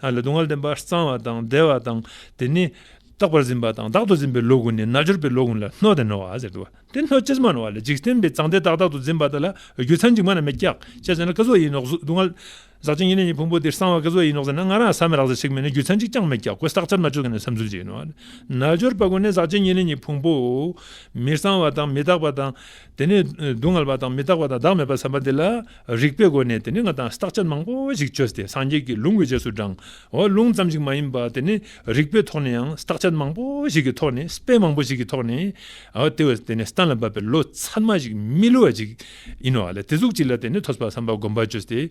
ལ་སྡུག་བསྔལ་བདེན་པ་གཙང་བ་དང་བདེ་བ་དང་དེ་ནི། རྟག་པར་འཛིན་པ་དང་བདག་ཏུ་འཛིན་པའི་ལོག་གུ་ནི་རྣལ་འབྱོར་པའི་ལོག་གུ་ལ་སྣོད་དང་ནོར་བ་ཟེར་ཏོ། དེ་སྣོད་ཅི་སྨྲ་བ་ལ་འཇིག་རྟེན་པའི་གཙང་བདེ་དག་བདག་ཏུ་འཛིན་པ་དག་ལ་རྒྱུ་མཚན་གཅིག་མ་ན་མེ་སྐྱག་ཅེས་བྱ་ན་སྐལ་བཟོ་ཡིན་ནོག་སྡུག་བསྔལ། ཟག་བཅས་གཉིས་ལས་ནི་ཕུང་པོ་དེར་གསང་བ་སྐལ་བཟོ་ཡིན་ནོག་ཟེར་ན་ང་རང་ཟ་མི་རག་ཟེར་ཞིག་མིན་ན་རྒྱུ་མཚན་གཅིག་ཀྱང་མེད་སྐྱག་ཁོས་བསགས་ཆར་མ་བཅོས་ག་ནས་བསམ་ཚུལ་གྱིས་ནོར་བ་རྣལ་འབྱོར་པ་ཀུན་ནས་ཟག་བཅས་གཉིས་ལས་ནི་ཕུང་པོ། མི་གཙང་བ་དང་མི་རྟག་པ་དང། དེ་ནས་སྡུག་བསྔལ་བ་དང་མི་རྟག་པ་དང་བདག་མེད་པར་བསམ་པ་དེ་ལ་རིགས་པའི་སྒོ་ནས་དེ་ནི་ང་དང་རྟག་ཆད་མང་པོ་ཞིག་ཆོད་དེ་སངས་རྒྱས་ཀྱི་ལུང་གི་རྗེས་སུ་འབྲང་བ་ལུང་ཙམ་ཞིག་མ་ཡིན་པར་དེ་ནི་རིགས་པའི་ཐོག་ནས་ཡང་རྟག་ཆད་མང་པོ་ཞིག་གི་ཐོག་ནས་དཔེ་མང་པོ་ཞིག་གི་ཐོག་ནས་དེ་བས་དེ་ནི་གཏན་ལ་འབབ་པའི་ལོ་ཚད་མ་ཞིག་མི་བསླུ་བ་ཞིག་ཡིན་ནོ། དེ་གཟུགས་གཅིག་ལ་དེ་ནི་ཐོས་པར་བསམ་པ་སྒོམ་པར་ཆོད་དེ།